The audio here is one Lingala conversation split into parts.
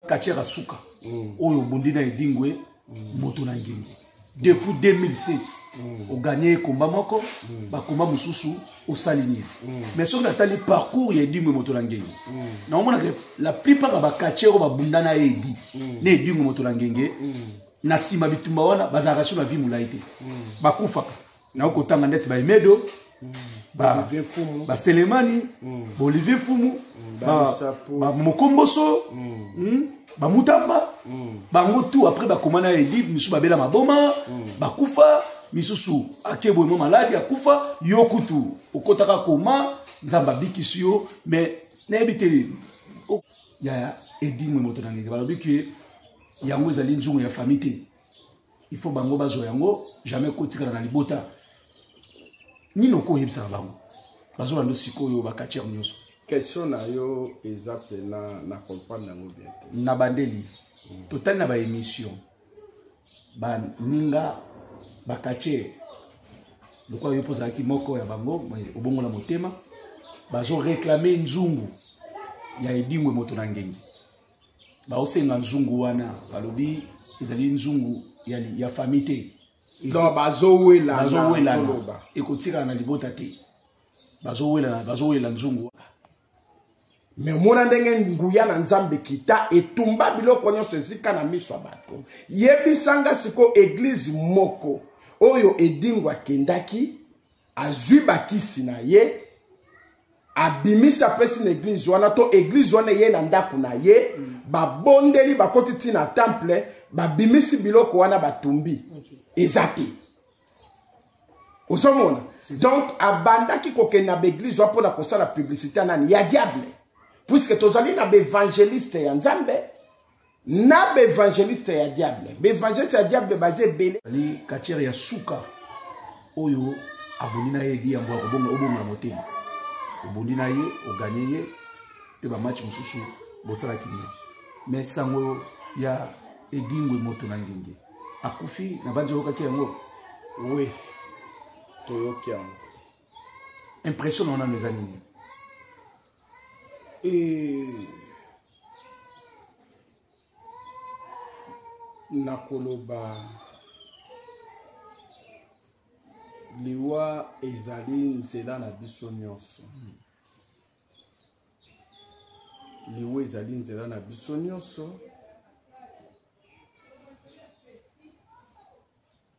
katiaka suka mm. oyo obundi na edingwe mm. moto na ngengi depuis 2007 mm. oganye ekomba moko mm. bakomba mosusu osali nini mm. mais soki natali parcours ya edingwe moto na ngenge mm. naomonaka la plupart ya bakatier oyo babunda na ye edi mm. na edingwe moto na ngenge mm. na nsima bitumba wana bazalaka sur na vie molai te mm. bakufaka nao kotanga ndeti baimedo baselemani baolivier fumu bamokomboso bamutamba bango tout après bakoma na elibe misusu babela maboma bakufa misusu akeboye mwa maladi akufa yo kutu okotaka koma nzambe abikisi yo mais nayebi te ya edingwe moto na ngenge balobi ke yango ezali nzungu ya famille te il faut bango bazwa yango jamais kotikala na libota nini okoyebisaka bango bazwa ndo sikoyo bakatiere nyonso question na yo eza mpena na comprendre yango bien te na bandeli mm. totali na baémission baninga bakatiere lokola yo mpo ozalaki moko ya bango obongola motema bazoreklame nzungu ya edingwe moto na ngengi baosenga nzungu wana balobi ezali nzungu ya, ya fami te donc bazowelana ekotikala na libota te bazowelana bazowela nzungu me omona ndenge nguya na nzambe kita etumba biloko nyonso esika na miso ya bato yebisanga sikoyo eglize moko oyo edingo akendaki azwi bakisi na ye abimisi apesi na eglize wana to eglize wana eye na ndako na ye babondeli bakoti ti na temple babimisi biloko wana batumbi eza te ozomona donc abandaki kokende na baeglize wana mpo na kosala publicité nani ya diable puiske tozali na baevangeliste ya nzambe na baevangeliste ya diable baevangeliste ya diable baza ebele ali katiere ya suka oyo abondi na ye edi yambo ya kobonga obonga na motema obondi na ye oganye ye mpe bamatch mosusu bosalaki nini me sango ya edingwe moto na ngenge akufi na banzi oyokaki yango we toyoki yango impression na wana eza nini Eh. nakoloba liwa ezali nzela na biso nyonso hmm. liwa ezali nzela na biso nyonso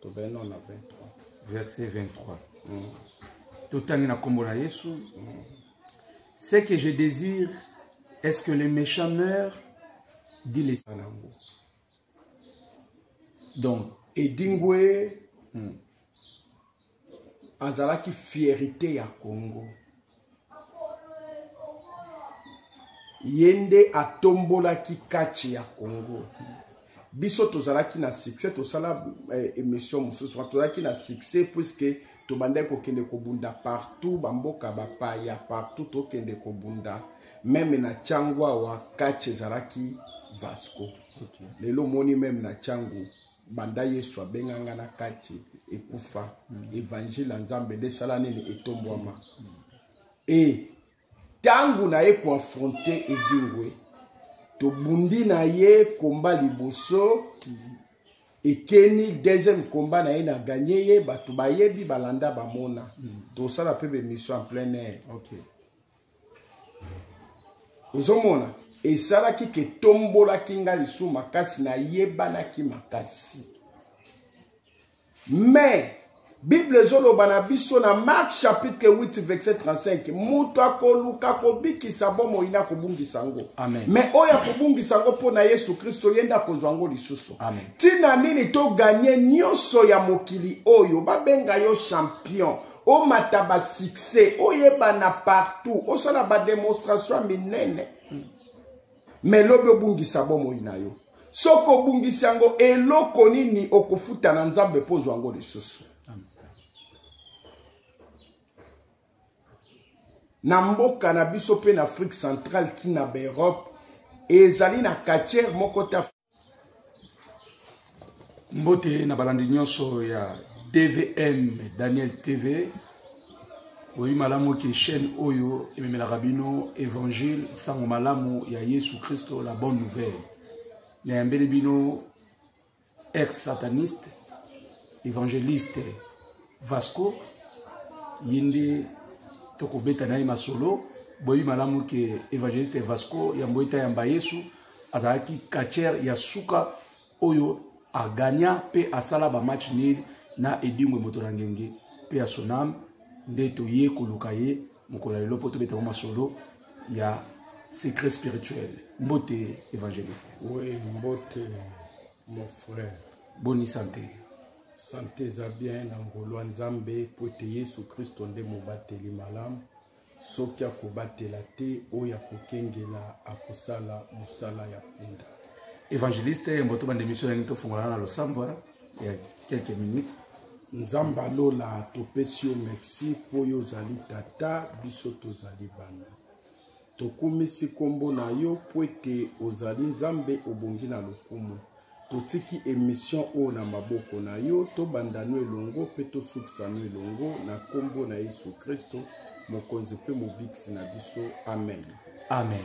tobei nano na 23 verset 23 mm. totangi na nkombo na yesu mm. ce que je désire est ce que les méchants meurent dit les yango donc edingwe mm. azalaki fierite ya congo ye nde atombolaki kati ya congo biso tozalaki na succès tosala eh, émission mosusu tozalaki na succès puiske tobandaki kokende kobunda partout bamboka bapaya partout tokende kobunda meme na cango awa kati ezalaki vasco okay. lelo omoni meme na cango banda yesu abenga nga na kati ekufa mm. evangile ya nzambe nde esala nini etombwama mm. e ntango na ye koafronte edingwe tobundi na ye komba liboso mm. ekeni deuxième combat na ye na ganye ye bato bayebi balanda bamona mm. tosala mpe bemission en plein air okay. ozomona esalaki ke tombolaki nga lisusu makasi nayebanaki makasi mais bible ezoloba na biso na mark chapitre 8 verset 35 moto akoluka kobikisa bomoi na kobungisa yango me oyo akobungisa yango mpo na yesu kristo ye nde akozwa yango lisusu ntina nini toganye nyonso ya mokili oyo babenga yo champion omata ba succès oyebana partout osala ba démonstration ya minene me lobi obungisa bomoi na yo soki obungisi yango eloko nini okofuta na nzambe mpo ozwa yango lisusu na mboka na biso mpe na afrique centrale ntina baeurope ezali na katiere moko ta mbote na balandi nyonso ya tvm daniel tv oyebi malamu ke chaîne oyo ememelaka bino évangile nsango malamu ya yesu kristo la bonne nouvelle nayambeli bino ex sataniste évangéliste vasco ye nde tokobeta na ye masolo boyebi malamu ke évangéliste vasco yambo etayamba yesu azalaki catcher ya suka oyo agagna mpe asala bamatch nil na edingwe moto na ngenge mpe ya sonam nde toye koluka ye mokolo ya lelo mpo tobeta mwa masolo ya secret spirituel mbote évangéliste oui mbote mon frère boni sante sante eza bien na ngolwa nzambe mpo ete yesu kristo nde mobateli malamu Soki akobatela te oyo akokengela akosala mosala ya punda. Evangeliste mboto bande mission yangi tofungola na losambo wana ya quelques minutes. Nzambe alola topesi yo merci mpo yo ozali tata biso tozali bana. Tokumisi nkombo na yo mpo ete ozali Nzambe obongi na lokumu. Totiki emission oyo na maboko na yo, tobanda no elongo mpe tosukisa no elongo na nkombo na Yesu Kristo, mokonzi mpe mobikisi na biso. Amen. Amen.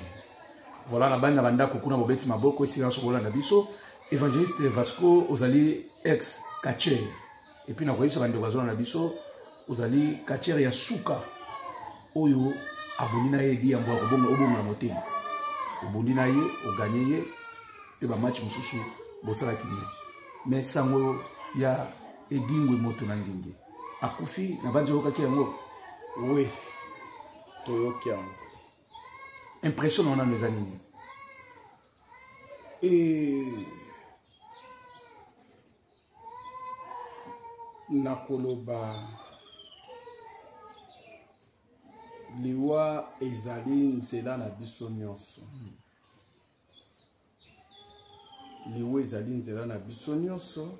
Voilà, na bani na bandako kuna mobeti maboko esika nyonso kolanda biso. Evangeliste Vasco ozali ex catcher. Et puis na koyebisa bandeko bazolanda biso ozali katiere ya suka oyo abondi na ye edi yango obongola motema obundi na ye oganye ye mpe bamatch mosusu bosalaki nini me sango ya edingwe moto na ngenge akufi na banzi oyokaki yango oui toyoki yango impression na wanano eza nini e... nakoloba liwa ezali nzela na biso nyonso liwa ezali nzela na biso nyonso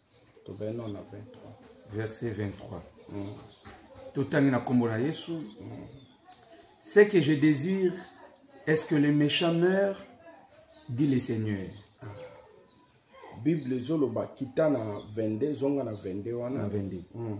tobei nano na 23 verset 23 mm. totangi na nkombo na yesu mm. ce que je désire est ce que les méchants meurent dit le seigneur ah. bible ezoloba kita na 22 zonga na 22 wana na 22 mm.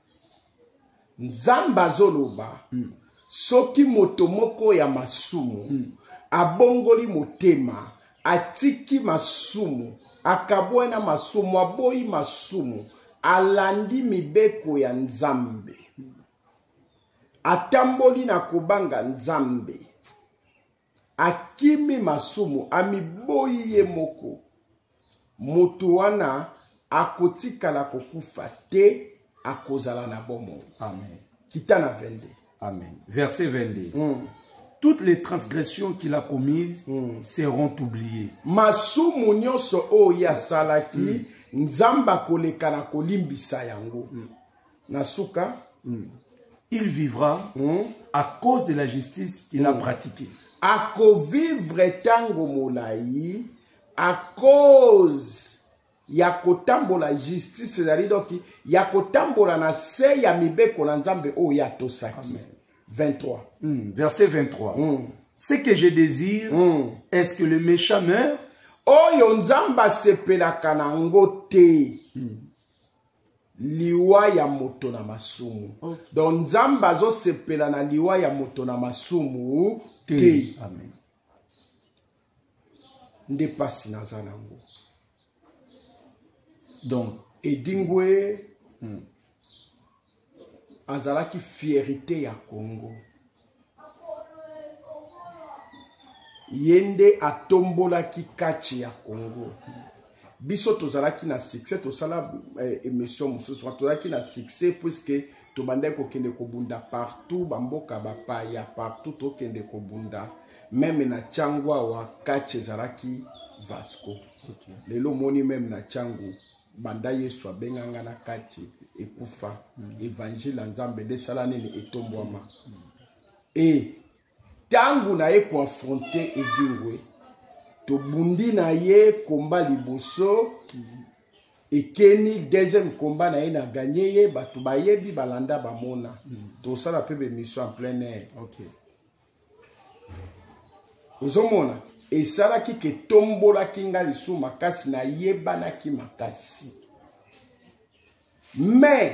nzambe azoloba mm. soki moto moko ya masumu mm. abongoli motema atiki masumu akabwai na masumu aboyi masumu alandi mibeko ya nzambe atamboli na kobanga nzambe Akimi masumu, amiboyi ye moko. Moto wana akotikala kokufa te, akozala na bomoi. Amen. Kita na 22. Amen. Verset 22. Mm. toutes les transgressions qu'il a commises mm. seront oubliées. Masumu nyonso oyo asalaki mm. Nzambe akoleka na kolimbisa yango. Mm. na suka mm. il vivra mm. à cause de la justice qu'il mm. a hmm. pratiquée akovivre ntango molai à cause ya kotambola justice ezali doki ya kotambola na se ya mibeko na nzambe oyo ye atosaki 23 mm, verset 23 mm. ce que je désire mm. est ce que le méchant meurt oyo nzambe asepelaka na yango te mm. liwa ya moto na masumu okay. donc nzambe azosepela na liwa ya moto na masumu te nde mpasi naza nango donc edingwe hmm. azalaki fierité ya congo ye nde atombolaki kache ya congo biso tozalaki na succès tosala eh, émission mosusu tozalaki na succès puiske tobandaki kokende kobunda partout bamboka bapaya partout tokende kobunda meme na cango awa kache ezalaki vasco okay. lelo omoni meme na cango banda yesu abenga nga na kati ekufa evangile ya nzambe nde esala nini etombwama e ntango na ye koafronte edingwe tobundi na ye komba liboso ekeni deuxième komba na ye na ganye ye bato bayebi balanda bamona tosala mpe bemission en plein air okay. ozomona esalaki ke tombolaki nga lisusu makasi nayebanaki makasi mais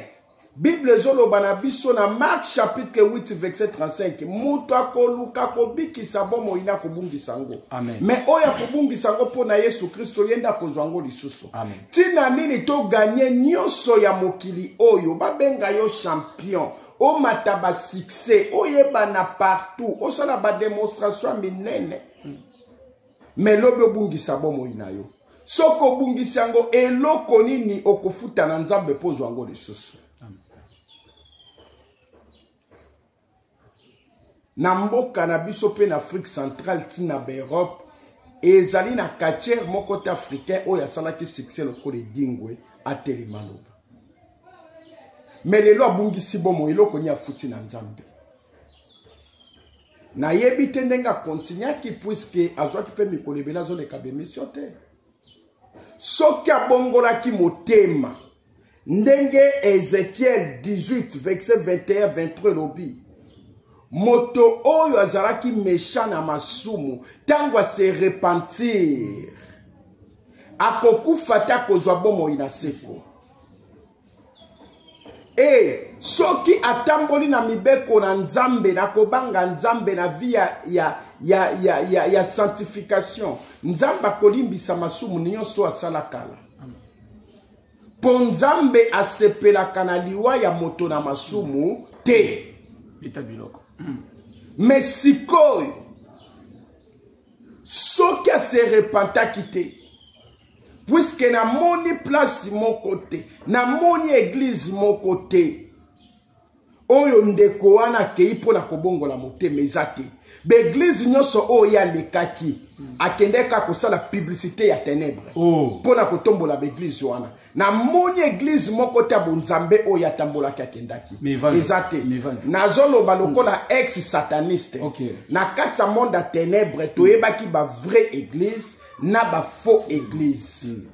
bible ezoloba na biso na mark chapitre 8 verset 35 moto akoluka kobikisa bomoi na kobungisa yango me oyo akobungisa yango mpo na yesu kristo ye nde akozwa yango lisusu ntina nini toganye nyonso ya mokili oyo babenga yo champion omata ba succès oyebana partout osala ba démonstration ya minene me lobi obungisa bomoi na yo soki obungisi yango eloko nini okofuta na nzambe mpo ozwa yango lisusu na mboka na biso mpe na afrique centrale ti na baeurope ezali na katiere moko te africain oyo asalaki succès lokola edingwe atelema loba me lelo abungisi bomoi eloko nini afuti na nzambe nayebi te ndenge akontinuaki puiske azwaki mpe mikolo ebele azoleka bemission te soki abongolaki motema ndenge ezekiel 18 verse 21 23 elobi moto oyo azalaki mesha na masumu ntango ase repentir akokufa te akozwa bomoi na seko e soki atamboli na mibeko na nzambe na kobanga nzambe na vi ya, ya, ya, ya, ya, ya sanctification nzambe akolimbisa masumu nyonso asala kala mpo nzambe asepelaka na liwa ya moto na masumu te beta biloko hmm. me sikoyo soki aserepantaki te puiske namoni place moko te namoni eglize moko te oyo ndeko wana akei mpo na kobongola motema eza te baeglize nyonso oyo ye alekaki akendaki kaka kosala publicité ya tenebre oh. mpo na kotombola baeglize wana namoni eglize moko te ya bonzambe oyo atambolaki akendaki eza te nazoloba lokola ex sataniste okay. na kati ya monde ya tenebre toyebaki bavrai eglize na ba faux église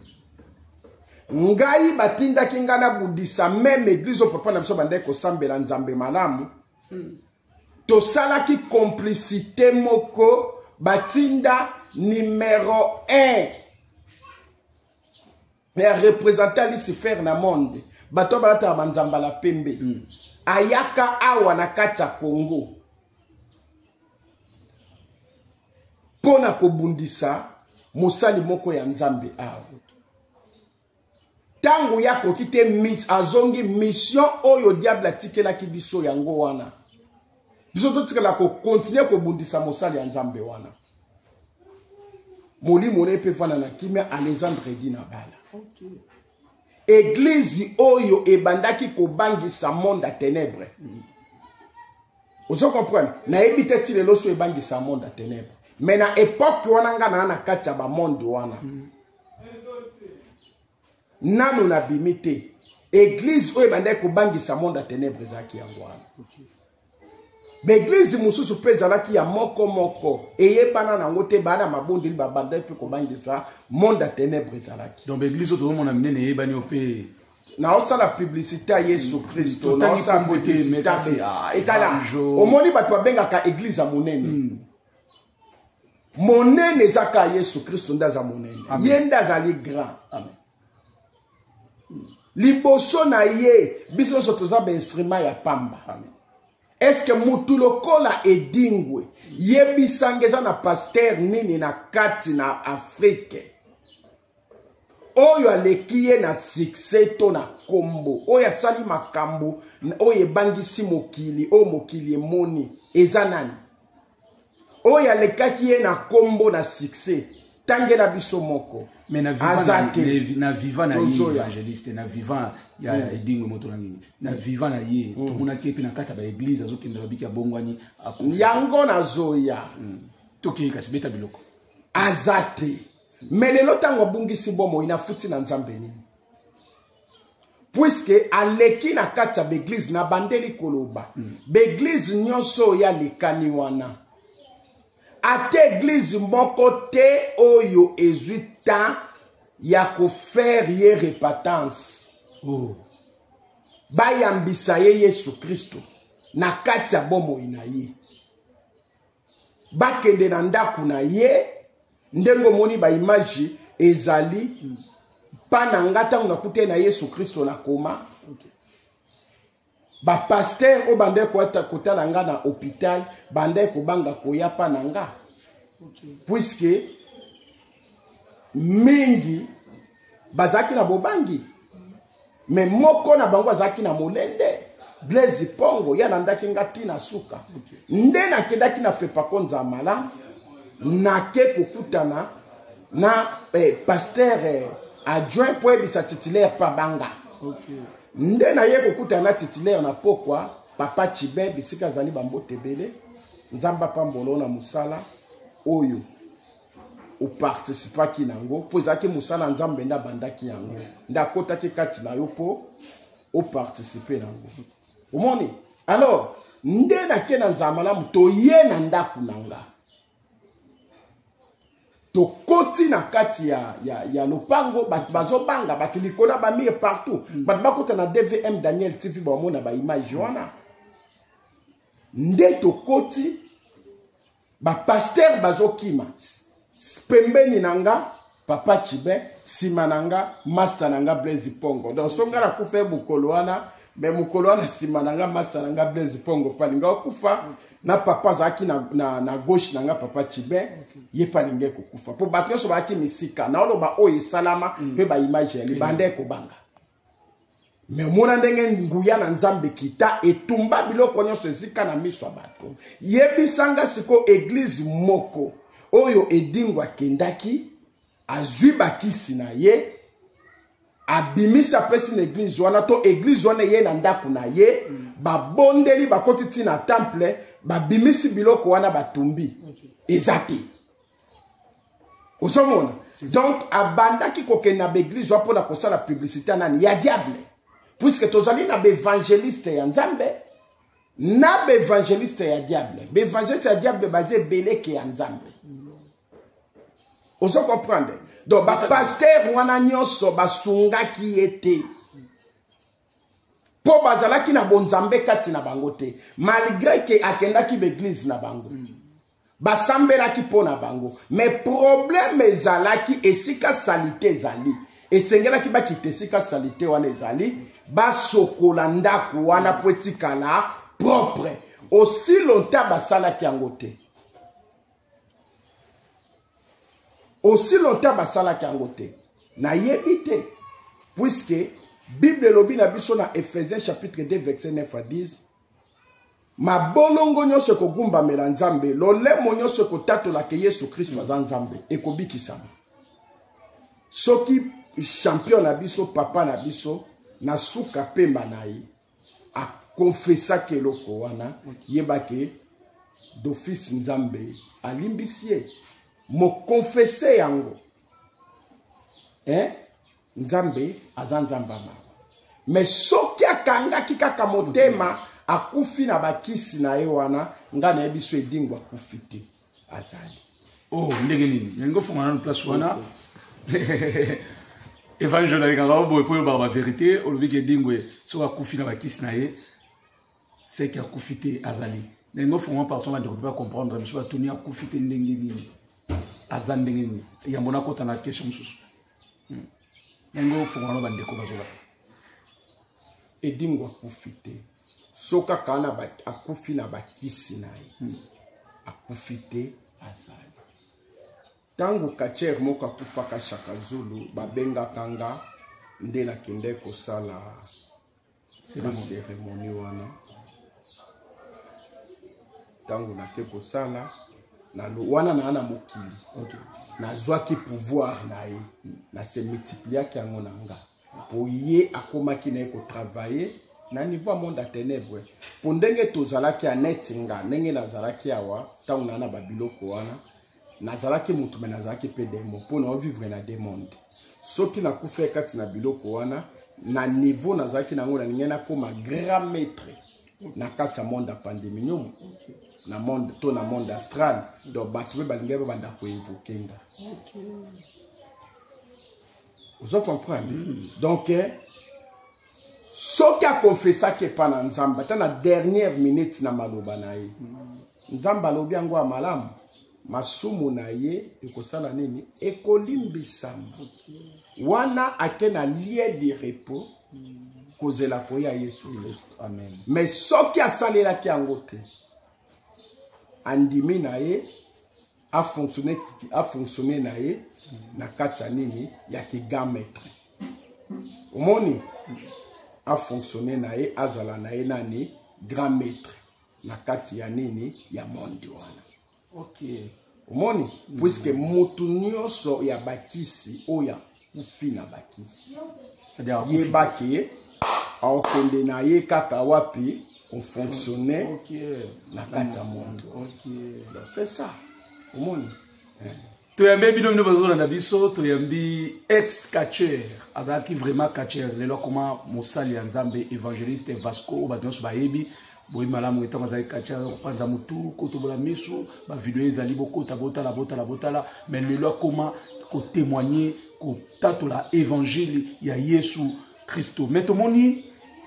mm. ngai batindaki ngai nabundisa meme église oyo papa na biso bandaki kosambela nzambe malamu mm. tosalaki complicité moko batinda numero 1 mais arepresente alisifer na monde bato balataka banzambala pembe mm. ayaka awa na kati ya congo mpo na kobundisa mosali moko ya nzambe awa ntango ye akoki te azongi mission oyo diable atikelaki biso yango wana biso totikala kokontinue kobundisa mosali ya nzambe wana molimo na ye mpe efanda na kimia alexandre di na bala okay. eglize oyo ebandaki kobangisa monde ya tenebre ozo comprendre nayebi te ti lelo so ebangisa monde ya tenebre me na epoke wana ngai naa na kati ya bamonde wana mm. nanu na bimi te eglise oyo ebandaki kobangisa monde ya tenebre ezalaki yango wana baeglize mosusu mpe ezalaki ya moko moko eyebana nango te baa na mabondeli babandaki mpe kobangisa monde ya tenebre ezalaki donc baeglize oyo tozomona minene eyebani yo mpe naosala publicité ya yesu kristo naosala publicité etala omoni bato babengaka eglize ya monene hmm. monene eza kaka yesu kristo nde aza monene ye nde azali grand Amen. liboso na ye biso nyonso toza bainstrima ya pamba Amen. eske mutu lokola edingwe yebisanga eza na paster nini na kati na afrike oyo aleki ye na succès to na nkombo oyo asali makambo oyo ebangisi mokili oyo mokili emoni eza nani oyo alekaki ye na nkombo na succès tangela biso moko mais na viva na viva na ye evangeliste na viva ya mm. edingwe moto na nini na mm. viva na ye mm. tomonaki ye mpe na kati ya baeglize azokende babiki abongwani yango nazoya tokei kasi beta biloko aza te me lelo ntango abungisi bomoi nafuti na nzambe nini puiske aleki na kati ya baeglize nabandeli koloba mm. baeglize nyonso oyo alekani wana ata eglize moko te oyo ezwi temps ya kofaire ye repentance oh. bayambisa ye yesu kristo na kati ya bomoi na ye bakende na ndako na ye ndenge omoni baimage ezali mpa na nga ntango nakute na yesu kristo na koma bapaster oyo bandaki kotala nga na hôpital bandaki kobanga koya mpa na nga puiske mingi bazalaki na bobangi me moko na bango azalaki na molende blaise pongo ye alandaki nga ti na suka nde nakendaki na fepako nzamala nake kokutana na eh, paster eh, adjoint mpo yebisa titulaire mpa banga okay. nde naye kokutana na titulaire na pokwa papa chibe bisika azali bambote ebele nzambe apambolo na mosala oyo oparticipaki na yango mpo ezalaki mosala ya nzambe nde abandaki yango nde akotaki kati na yo mpo oparticipe na yango omoni alors nde nake na nzala malamu toye na ndako na nga tokoti na kati ya, ya, ya lopango bato bazobanga bato likolo ya bamire partout mm. bato bakota na dvm daniel tv bamona baimage wana nde tokoti bapastere bazokima pembeni na nga papa chibin nsima na nga masta na nga blaise pongo donc so nga nakufa ye mokolo wana me mokolo wana nsima na nga masta na nga blaise pongo palinga okufa na papa azalaki na, na, na gauche na nga papa chibin ye palinga ekokufa mpo bato nyonso bazalaki misika naoloba oyo esalama mpe mm. baimage ya libanda ekobanga me omona ndenge nguya na nzambe kita etumba biloko nyonso ezika na miso ya bato yebisanga sikoyo eglize moko oyo edingo akendaki azwi bakisi na ye abimisi apesi na eglize wana to eglize wana eye na ndako na ye babondeli bakoti ntina temple babimisi biloko wana batumbi eza te ozomona donc abandaki kokende na baeglise wa mpo na kosala publicité ya nani ya diable puiske tozali na baevangeliste ya nzambe na baevangeliste ya diable baevangeliste ya diable baza ebeleke ya nzambe ozo comprendre donc bapaster wana nyonso basungaki ye te mpo bazalaki na bonzambe kati na bango te malgre ke akendaki baeglise na bango mm. basambelaki mpo na bango me probleme ezalaki esika salite ezali esengelaki bakita esika salite wana ezali basokola ndako wana mpo etikala propre osi lonta basalaki yango te osi lonta basalaki yango te nayebi te puiske bible elobi na biso na ephésiens chapitre 2 verset 9 à 10 mabolongo nyonso ekogumbamela nzambe lolemo nyonso ekotatola ke yesu kristo mm. aza nzambe ekobikisama soki champion na biso papa na biso na suka pemba na ye akonfesaki eloko wana yebake dofisi nzambe alimbisi ye mokonfese yango eh? nzambe aza nzambe ya mawa me soki akangaki kaka motema akufi na bakisi na ye wana ngai nayebi so edingo akufi te azali o oh, ndenge nini yango fonga nano place wana evangele alekaka o boye mpo oyobaka baverité olobi ke edingo soki akufi na bakisi na ye seke akufi te azali na yango fonga parti wana ndeko mpe bacomprendre biso batuni akufi te ndenge nini aza ndenge nini yambo nakota na question mosusu hmm. yango ofungana bandeko bazoba edingo akufi te so kaka na akufi na bakisi na ye hmm. akufi te azali ntango katiere moko akufaka shaka zulu babengaka nga nde nakende kosala seremoni wana ntango nake kosala wana naa na mokili okay. nazwaki pouvoir na ye na se multipliaki yango na nga mpo ye akomaki na ye kotravaille na niveau ya monde ya ténèbre mpo ndenge tozalaki ya neti nga ndenge nazalaki awa ntango naa na babiloko wana nazalaki motu me nazalaki mpe demo mpo na ovivre na de monde soki nakufa kati na biloko wana na niveau nazalaki nango nalingai nakóma grand maître na kati ya monde ya pandeminium na monde to na monde astral donc bato mpe balingaki babanda koevoke nga ozo comprendre mm. donc eh, soki akonfesaki epa na nzambe ata na dernière minute na maloba na ye mm. nzambe alobi yango ya malamu masumu na ye ekosala nini ekolimbisama okay. wana ake na lie de repos mm. kozela koya yesu kristo mais soki asalelaki yango te andimi na ye afonctionne afonctionne na ye na kati ya nini ya kigametre omoni afonctionne na ye azala na ye nani grand maître na kati ya nini ya monde wana okay. omoni mm. puiske motu nyonso ya bakisi oyo kofina bakisi yeba ke aokende na ye kaka wapi kofonctionne na kati ya mondo donc c'est ça omoni toyambi bino bino bazolanda biso toyambi ex catcher azalaki vraiment catcher lelo akoma mosali ya nzambe évangéliste vasco oyo bato nyonso bayebi boyi malamu ntango azali kati ya kopanza motu kotobola miso bavideo ezali bokota botala botala botala mai lelo akoma kotemoigne kotatola evangile ya yesu kristo mai tomoni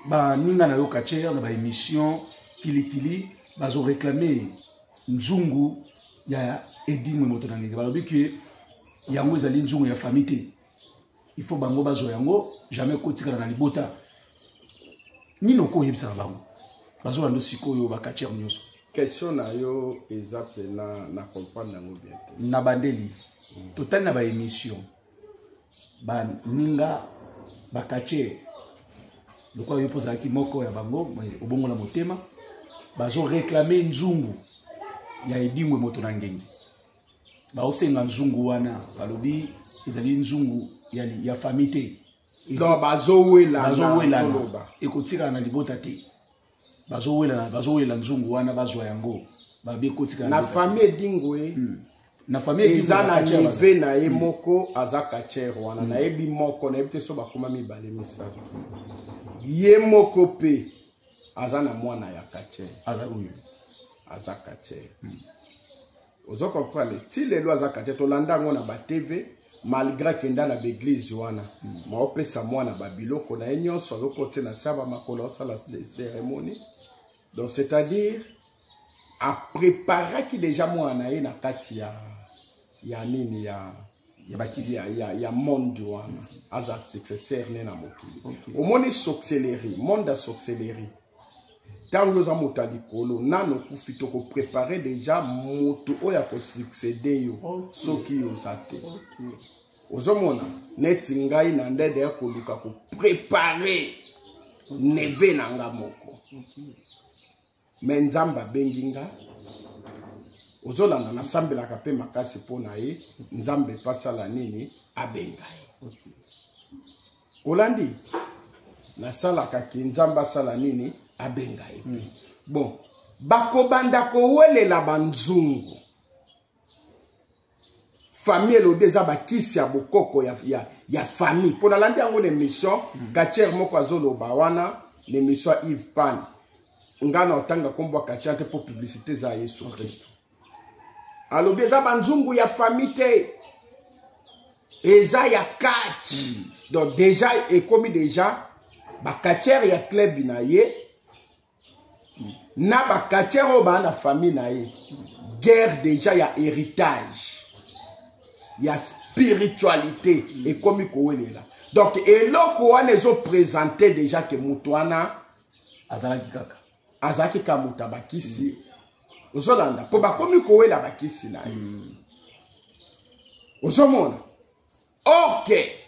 baninga na yo katiere na baémission kilikili bazoreklame nzungu ya edingwe moto na ngenge balobi ke yango ezali nzungu ya famille te il faut bango bazwa yango jamais kotikala na libota nini okoyebisa na bango bazwa ndo sikoyo bakatiere nyonso question na yo eza mpena na comprendre yango bien te na bandeli mm. totali na baémission baninga bakatiere lokola yo mpo ozalaki moko ya bango obongola motema bazoreklame nzungu ya edingwe moto na ngenge baosenga nzungu wana balobi ezali nzungu ya, ya fami te donc bazowelana ekotikala na libota te bazowelana bazowelela nzungu wana bazwa yango babi ekotikala na fami edingwe hmm. na fami eza na nive na ye hmm. moko aza kachere wana hmm. nayebi moko nayebi te so bakoma mibale misato ye moko mpe aza na mwana ya kache aza oyo aza kache hmm. ozo comprendre ti lelo aza kache tolanda yango na batv malgré akenda na baeglize wana hmm. maopesa mwana babiloko na ye nyonso azokote na saba makolo asala cérémonie donc c'est à dire apreparaki déjà mwana na ye na kati ya ya nini ya ya bakiti ya, ya, ya monde wana aza successeur ne na mokili okay. omoni sorcellerie monde ya sorcellerie ntango yo oza moto ya likolo nano okufi tokoprepare deja moto oyo akosuccede yo okay. soki yo oza te okay. ozomona neti ngai na ndede ya koluka koprepare neve na nga moko okay. me nzambe abengi nga ozolanda nasambelaka mpe makasi mpo na ye nzambe mpe asala nini abenga ye olandi nasalaka ke nzambe asala nini abenga ye mpe mm. bon bakobanda kowelela banzungu famille elode eza bakisi ya bokoko ya, ya, ya famille mpo nalandi yango na émission mm -hmm. katiere moko azoloba wana na émission ya ive pan ngai na otanga nkombo ya katiere te mpo publicité eza ya yesu kristo okay. alobi eza banzungu ya famille te eza ya kati mm -hmm. donc déjà ekomi déjà bakatiere ya club na ye na bakatiere oyo baa na famille na ye guerre déjà ya héritage ya spiritualité ekomi kowelela donc eloko wana ezopresente déjà ke moto wana azalaki kaka azalaki kaka moto ya bakisi mm. ozolanda mpo bakomi kowela bakisi na ye mm. ozomona or ke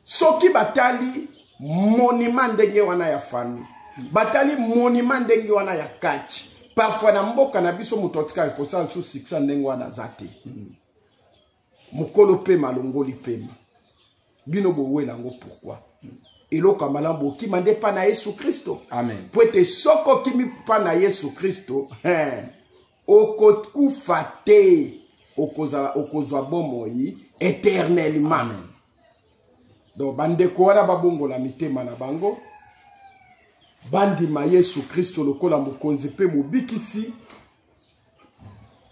soki batali monima ndenge wana ya famille batali monima ndenge wana ya kachi parfois na mboka na biso moto atikaka kosala lisusu sikisa ndenge wana aza te mokolo mpema alongoli mpema bino bowela yango pourkui eloko ya malamu bokima nde mpa na yesu kristo mpo ete soko okimi mpa na yesu kristo okokufa te okozala okozwa bomoi éternellement donc bandeko wana babongola mitema na bango bandima yesu kristo lokola mokonzi mpe mobikisi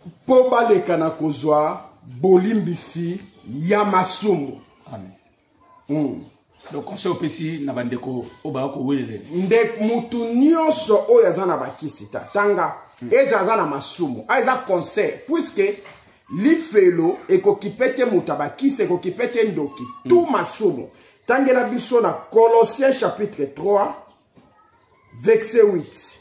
mpo baleka na kozwa bolimbisi ya masumu Amen. mm. donc conseil opesi na bandeko oyo baya kowelele nde motu nyonso oyo aza na bakisi ta tanga mm. eza aza na masumu a ah, eza conseil puiske lifelo ekokipe te moto ya bakisi ekokipe te ndoki mm. tu masumu tangela biso na colossien chapitre 3 verset 8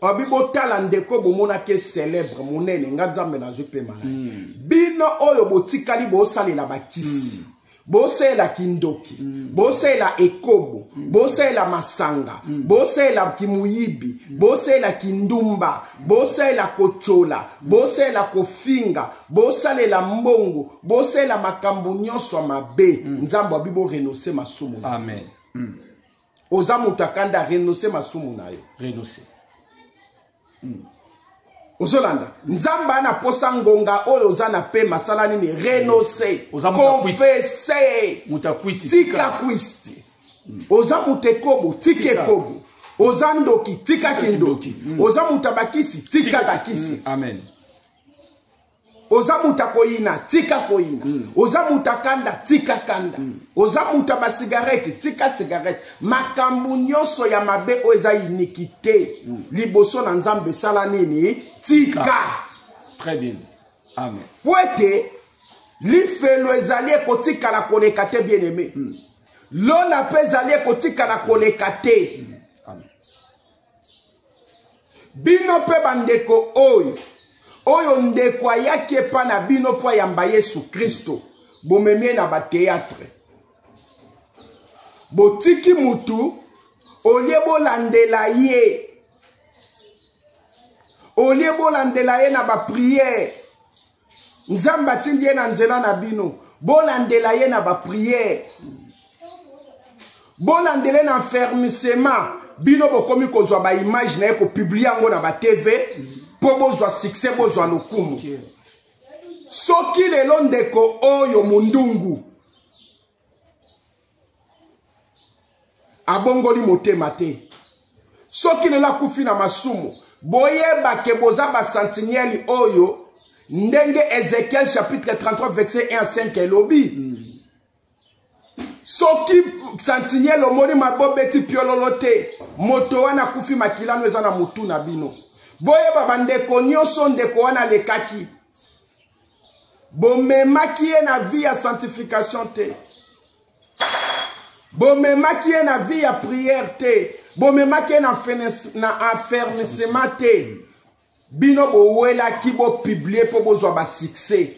babi botala ndeko bomonaki célèbre monene nga nzambe nazwi mpema na ye mm. bino oyo botikali bosalela bakisi mm. bosalela kindoki mm. bosalela ekobo mm. bosalela masanga mm. bosalela kimuyibi mm. bosalela kindumba mm. bosalela kotyola mm. bosalela kofinga bosalela mbongo bosalela makambo nyonso ya mabe mm. nzambe abi borenonse masumu amen mm. oza moto ya kanda renonce masumu na yo renonce hmm. ozolanda nzambe ana posa ngonga oyo oza na pe masala nini renonce confese tika kwisti hmm. oza moto ekobo tika ekobo oza ndoki tika kindoki hmm. oza moto ya bakisi tika bakisi hmm. amen oza moto akoyina tika koyina mm. oza moto akanda tika kanda mm. oza moto ya basigarete tika sigarete makambo nyonso ya mabe oyo eza inikite mm. liboso na nzambe esala nini tika très bien amen mpo ete lifelo ezali ekotikala koleka te bien aime mm. lola mpe ezali ekotikala koleka te mm. bino mpe bandeko oyo oyo ndeko ayaki epa na bino mpo ayamba yesu kristo bomemie na bateatre botiki mutu olie bolandela ye olie bolandela ye na bapriere nzambe atindi ye na nzela na bino bolandela ye na bapriere bolandele na fermisema bino bokomi kozwa baimage na ye kopiblie yango na batv mpo bozwa succès bozwa lokumu soki lelo ndeko oyo mondungu abongoli motema te soki lelo akufi na masumu boyeba ke boza basentinele oyo ndenge ezekiel chapitre 33 verset 1 à 5 elobi mm. soki sentinele omoni mabobeti piololo te moto wana akufi makilano eza na motu na bino boyeba bandeko nyonso ndeko wana alekaki bomemaki ye na vie ya sanctification te bomemaki ye na vie ya prière te bomemaki ye na, na affermissement te bino bowelaki bopiblie mpo bozwa basuccès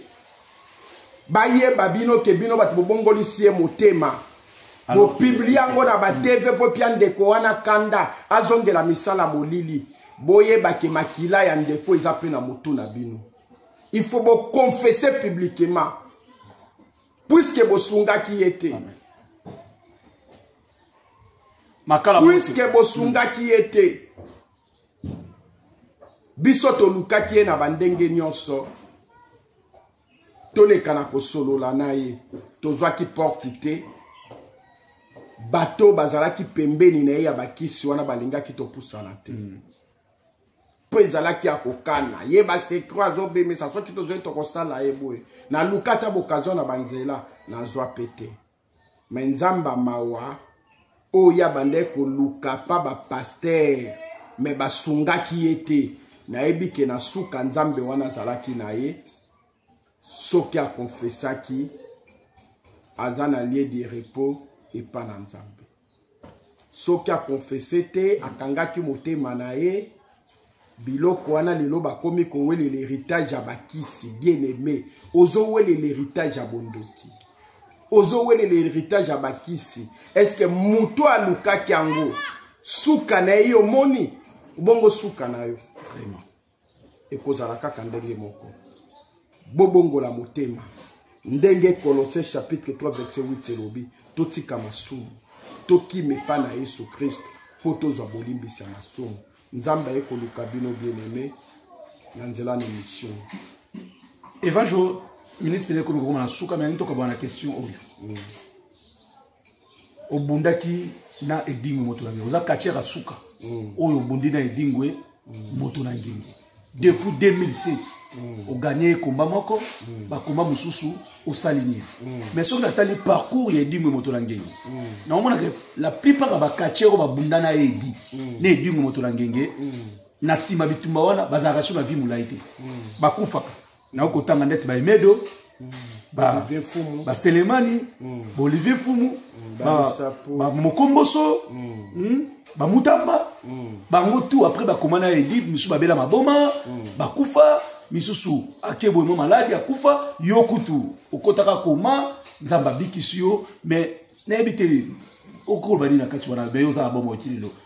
bayeba bino ke bino bato bobongolisi ye motema bopiblie yango na batv mpo pia ndeko wana kanda azongela misala molili boyebake makila ya ndeko eza mpe na motu na bino il faut boconfesse publiquement puiske bosungaki ye te puiske bosungaki ye te biso tolukaki ye na bandenge nyonso toleka na kosolola na ye tozwaki porte te bato bazalaki pembeni na ye ya bakisi wana balingaki topusana te mm. mpo ezalaki ya kokana ye basekro azobimisa soki tozoi tokosala ye boye naluka ata bokazio na banzela nazwa mpe te me nzambe mawa oyo abandaki koluka mpa bapastere me basungaki ye te nayebi ke na suka nzambe wana azalaki na ye soki akonfesaki aza na lie de repos epa na nzambe soki akonfese te akangaki motema na ye biloko wana lelo bakomi kowelela heritage ya bakisi bien aime ozowelela heritage ya bondoki ozowelela heritage ya bakisi eske moto alukaki yango suka na ye omoni bongo suka na yo vraiment ekozala kaka ndenge moko bobongola motema ndenge kolose chapitre 3 verset 8 elobi totika masumu tokima epai na yesu kristo mpo tozwa bolimbisi ya masumu nzambe aye koluka bino bieneme na nzela na mission evanjo ministre ekoluka koma na suka me ntoka bana question oyo mm. obundaki na edingo moto na ngengi oza katiaka suka mm. oyo obundi na edingo e mm. moto na ngengi depuis 2007 mm. oganye ekomba moko mm. bakomba mosusu osali nini mm. mais soki natali parcours ya edingo e moto na ngengi mm. naomonaka la plupart ya bakatier oyo babunda na edi mm. na edingo e moto na ngenge mm. na nsima bitumba wana bazalaka sur na vie molai te mm. bakufaka nayo kotanga ndeti ba emedo baselemani baolivier fumu bamokomboso bamutamba bango tout après bakoma na edib misusu babela maboma bakufa misusu akeboye mwa maladi akufa yo kutu okotaka koma nzambe abikisi yo mais nayebi te okoloba nini na kati wana me yo oza na bomo oti lelo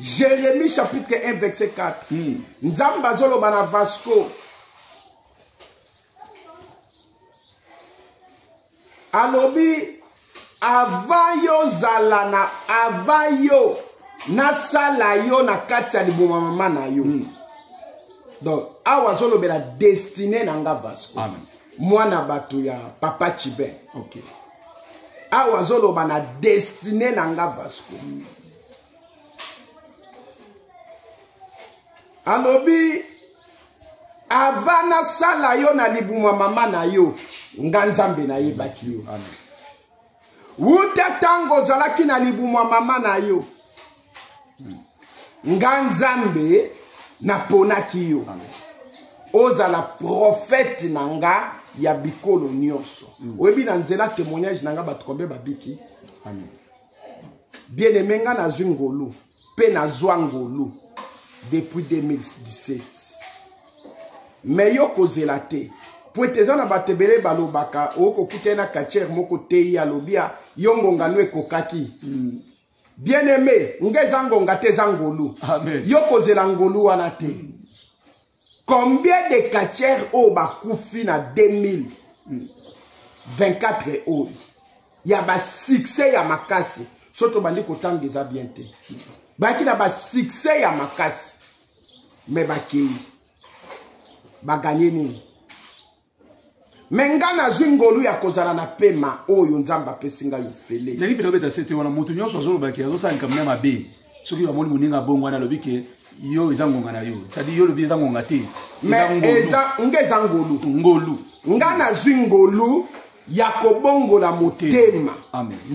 Jérémie chapitre 1 verset 4. Mm. Nzambe azoloba na Vasco. Alobi avant yo zala na avant yo nasala yo na kati ya liboma mama na yo. Mm. Donc awa azolobela destiné na nga Vasco. Amen. Mwana bato ya papa Chibin. Okay. awa azoloba na destine na nga vasco alobi ava nasala yo na libuma mama na yo nga nzambe nayebaki yo wuta ntango ozalaki na libuma mama na yo nga nzambe naponaki yo ozala profete na nga ya bikolo nyonso mm. oyebi na nzela témoignage na nga bato kombe babiki bien aime nga nazwi ngolu mpe nazwa ngolu depuis 2017 me yo kozela te mpo ete eza na bato ebele balobaka okokutani na katiere moko tei alobi yo ngongano ekokaki mm. bien aimé nga eza ngonga te eza ngolu yo kozela ngolu wana te mm. combien de catcheurs oyo bakufi na 2024 oyo ya basuccès ya makasi so tobandi kotanga eza bien te bayaki na basuccès ya makasi me bakei baganye nini me ngai nazwi ngolu ya kozala na pema oyo nzambe apesi ngai ofele ndenge mpena obeta sete wana moto nyonso azoloba ke azosala likambo na mabe soki bamoni moninga bongo wana alobi ke yo eza ngonga na yo cetadi yo olobi eza ngonga te nga eza ngolu ngolu nga nazwi ngolu ya kobongola motema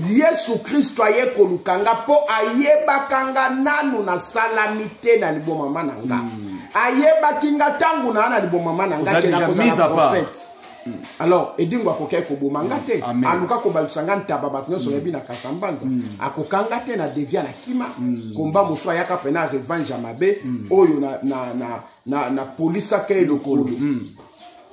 yesu kristo aye koluka nga mpo ayebaka nga nanu nasalami te na libomama na nga mm. ayebaki nga ntango naa na libomama na nga kenakozala profete mm. alors edingo akokaki koboma nga te mm. aluka kobalusa nga ntaba bato nyonso oyebi na kasa mbanza akoka nga te na devia na kima komba mosusu ayaka mpena revange ya mabe oyo na, na, na, na, na polisaka ye lokolo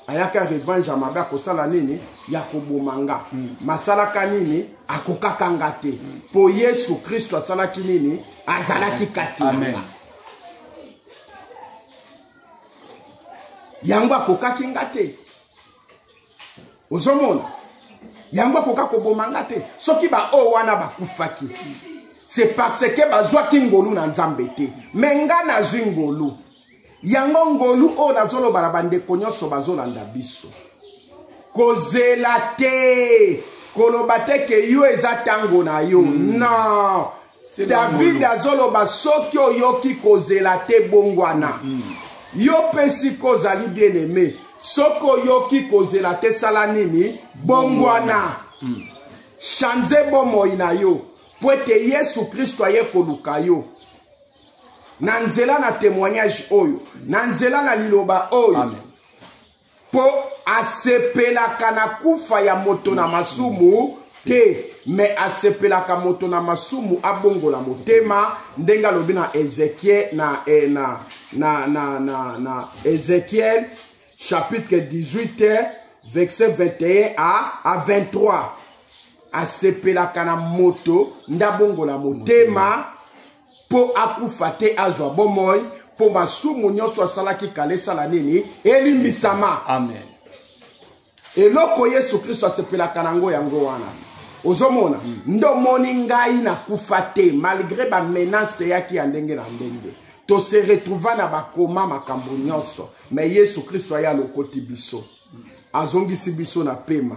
ayaka revange ya mabe akosala nini ya koboma nga mm. masalaka nini akokaka nga te mm. mpo mm. yesu kristo asalaki nini azalaki kati na nga yango akokaki nga te ozomona yango akoka koboma nga te soki baoyo wana bakufaki c'est parce que bazwaki ngolu na nzambe te me nga nazwi ngolu yango ngolu oyo nazoloba na bandeko nyonso bazolanda biso kozela te koloba te ke yo eza ntango na yo mm. non david azoloba soki oyoki kozela te bongwana mm. yo mpe sika ozali bien aime soki oyoki kozela te sala nini bongwana mm. chanze bomoi na yo mpo ete yesu kristo aye koluka yo na nzela na témoignage oyo na nzela na liloba oyo Amen. mpo asepelaka na kufa ya moto na masumu te me asepelaka moto na masumu abongola motema ndenge alobi na ezekiel na, eh, na, na, na, na, na ezekiel chapitre 18 verset 21 à, à 23 asepelaka na moto nde abongola motema mpo akufa te azwa bomoi mpo masumu nyonso asalaki kala esala nini elimbisama amen eloko yesu kristo asepelaka na yango yango wana ozomona mm. nde omoni ngai nakufa te malgre bamenase eyaki ya ndenge na ndenge tose retrouva na bakoma makambo nyonso me yesu kristo aya alokoti biso azongisi biso na pema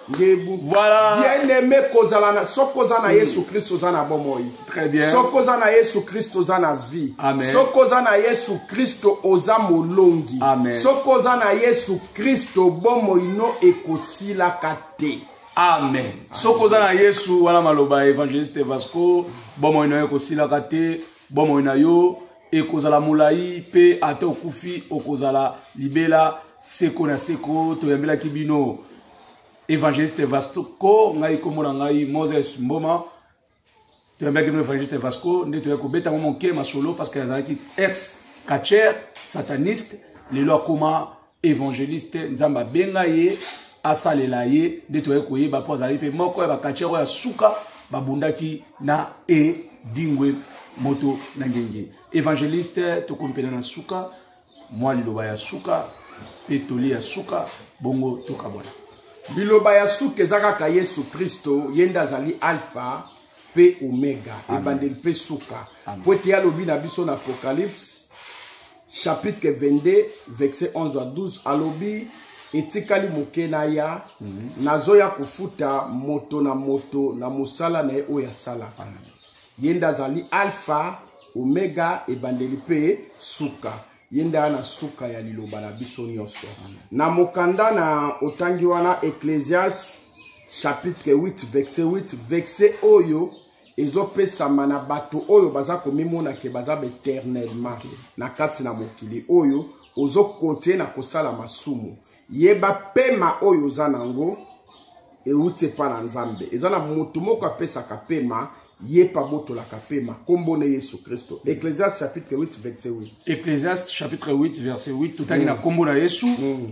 ngebu voilà. bien aimé kozala na soki oza na mm. yesu kristo oza na bomoi soki oza na yesu kristo oza na vie soki oza na yesu kristo oza molongi soki oza na yesu kristo bomoi no ekosilaka te amen soki oza na yesu wana maloba ya evangeliste vasco bomoi na yo ekosilaka te bomoi na yo ekozala molai mpe ata okufi okozala libela seko na seko toyambelaki bino evangeliste vasco ngai nkombo na ngai moses mboma toyambelaki bino evangeliste vasco nde toyaki kobeta mwa moke masolo parce que azalaki ex catcher sataniste lelo akoma evangeliste nzambe abenga ye asalela ye nde toye koyeba mpo azalaki mpe moko ya bakatiere oyo ya suka babundaki na edingwe moto na ngenge evangeliste tokompena na suka mwa liloba ya suka mpe toli ya suka bongo tokabwana liloba ya suka eza kaka yesu kristo ye nde azali alfa mpe omega ebandeli mpe suka mpo ete alobi na biso na apocalypse chapitre 22 verset 11 à 12 alobi etikali moke naya mm -hmm. nazoya kofuta moto na moto na mosala na ye oyo asalaka ye nde azali alpha omega ebandeli mpe suka ye nde aya na suka ya liloba na biso nyonso na mokanda na otangi wana ecclesias chapitre 8 verset 8 verset oyo ezopesama na bato oyo baza komimona ke baza baeternellement na kati na mokili oyo ozokontinue na kosala masumu yeba pema oyo oza na yango euti epai na nzambe eza na moto moko apesaka pema ye mpe abotolaka pema nkombo na yesu kristo ecclesias chapitre 8 verset 8 ecclesias chapitre 8 verset 8 totali mm. na nkombo na yesu mm.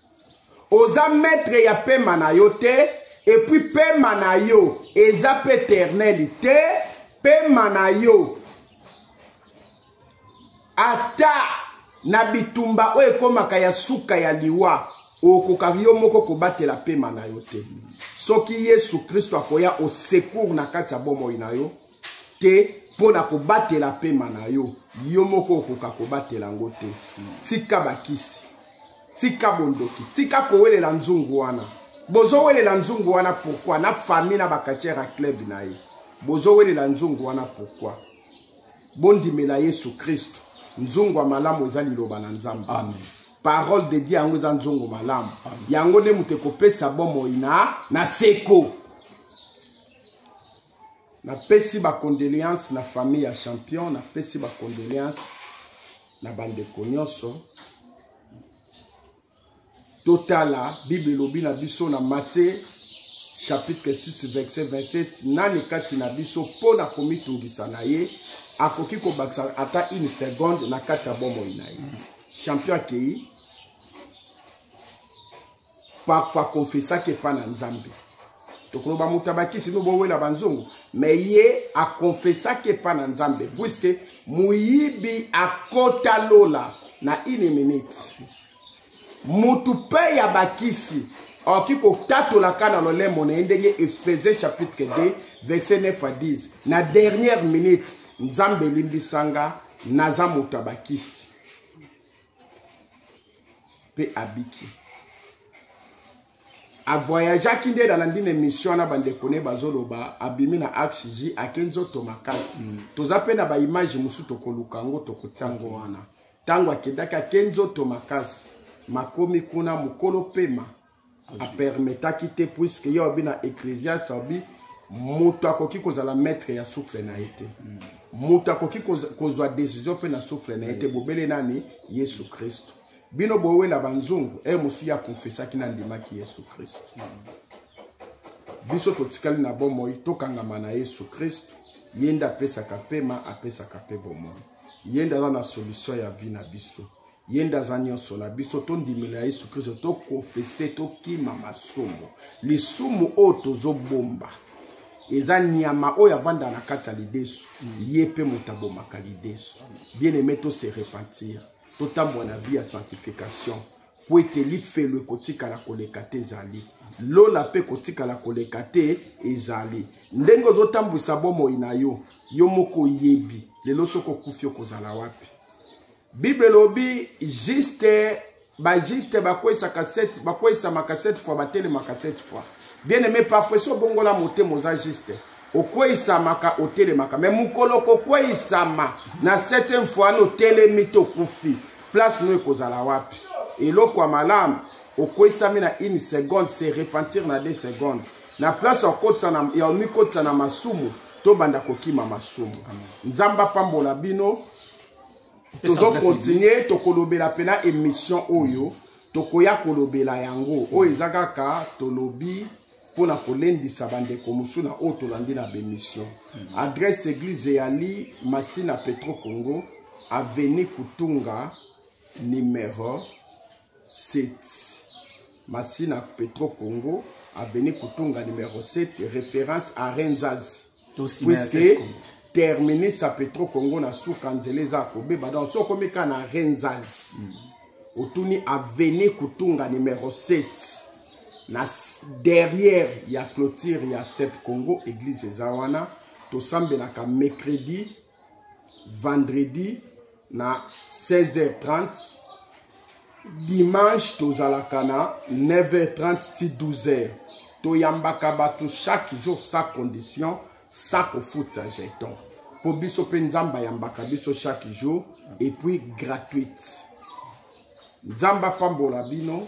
oza maître ya pema na yo te epuis pema na yo eza mpe eterneli te pema na yo ata na bitumba oyo ekomaka ya suka ya liwa okoka yo moko kobatela pema na yo te soki yesu kristo akoya osecour na kati ya bomoi na yo te mpo na kobatela pema na yo yo moko okoka kobatela yango te tika bakisi tika bondoki tika kowelela nzungu wana bozowelela nzungu wana pourkui na famille na bakatiere ya club na ye bozowelela nzungu wana pourkui bondimela yesu kristo nzungu ya malamu eza liloba na nzambe amen parole de dieu yango eza nzongo malamu yango nde moto ekopesa bomoi na na seko napesi bacondoléance na famille ya champion napesi bacondoléance na bandeko nyonso totala bible elobi na biso na matie chapitre 6 verset 27 nani kati na biso mpo na komitungisa na ye akoki kobakisa ata une seconde na kati ya bomoi na ye champion akei parfois confesaki epai na nzambe tokoloba moto ya bakisi no bowela banzongo me ye akonfesaki epai na nzambe puiske moyibi akota lola na une minute motu mpe ya bakisi akoki kotatolaka na lolemo na ye ndenge efese chapitre 2 verset 9 à 10 na dernière minute nzambe elimbisanga naza moto ya bakisi mpe abiki avoyageaki nde nalandi na émission wana bandeko ne bazoloba abimi na axg ake nzoto makasi mm. toza mpe na baimage mosusu tokoluka yango tokotia yango wana ntango akendaki ake nzoto makasi makomi kuna mokolo pema apermetaki te puiske ye obi na ecclesias obi moto akoki kozala maître ya souffle na ye te mm. moto akoki kozwa décision mpe na souffle na ye te bobele nani yesu kristo bino bowela banzungu e mosusu ye akonfesaki nandimaki yesu kristo mm. biso totikali na bomoi tokangama na yesu kristo ye nde apesaka mpema apesaka mpe bomoi ye nde aza na solution ya vie na biso ye nde aza nyonso na biso tondimela yesu kristo tokonfese tokima masumu lisumu oyo tozobomba eza nyama oyo avanda na kati ya lidesu ye mpe moto abomaka lidesu bien aime tose repentir totambola na vie ya sanctification mpo ete lifelo ekotikala koleka te ezali lola mpe ekotikala koleka te ezali ndenge ozotambwisa bomoi na yo yo moko oyebi lelo soki okufi okozala wapi bible elobi juste bajuste bakwesaka bakwesamaka sept fois batelemaka sept fois bien aime parfois so obongola motema oza juste okweisamaka otelemaka me mokolo kokweisama na septième fois na otelemi to okufi place no ekozala wapi eloko ya malamu okweisami na une seconde se repentir na deux seconde na place ya omikotisa na masumu tobanda kokima masumu nzambe apambola bino tozo continue tokolobela mpena émission oyo tokoya kolobela yango oyo eza kaka tolobi mpo na kolendisa bandeko mosusu na oyo tolandi na bémission hmm. adresse église eyali masina petro congo aveni kutunga numero 7 masina petro congo aveni kutunga numero 7 référence à renzas puisque terminus ya petro congo na suka nzela eza kobeba donc soki okomi kaka na renzas mm. otuni aveni kutunga numero 7 na derrière ya clôture ya sep congo église eza wana tosambelaka mercredi vendredi na 16h30 dimanche tozalaka na 9h30 ti 12h toyambaka bato chaque jour sa condition sa kofuta jeton mpo biso mpe nzambe ayambaka biso chaque jour epuis gratuite nzambe apambola bino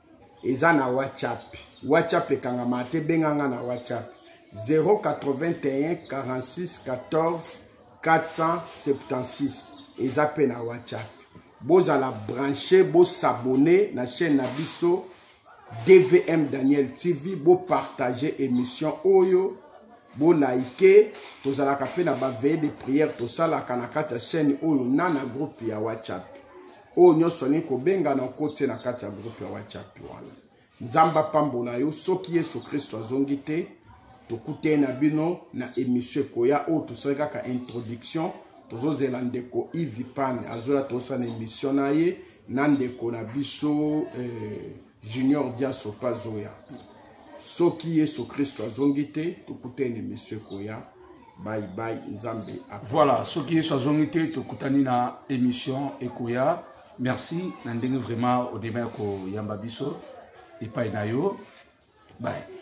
eza na whatsapp whatsapp ekangama te benganga na whatsapp 081 46 14 476 eza mpe na whatsapp bozala branche bosabone na chaîne na biso dvm daniel tv bopartage émission oyo bolaike tozalaka mpe na baveye de prière tosalaka na kati ya chaîne oyo na na groupe ya whatsapp oyo nyonso alingi kobenga na okoti ye na kati ya groupe ya whatsapp wana nzambe apambola yo soki yesu kristo azongi te tokutani na bino na emission ekoya oyo tosali kaka introduction tozozela ndeko ivipane azoya tosala na emission na ye na ndeko na biso eh, junior dia sopa azoya soki yesu kristo azongi te tokutani emission ekoya bye bye nzambe voilà soki yesu azongi te tokutani na émission ekoya merci na ndenge vraiment odema ya koyamba biso epai na yo bye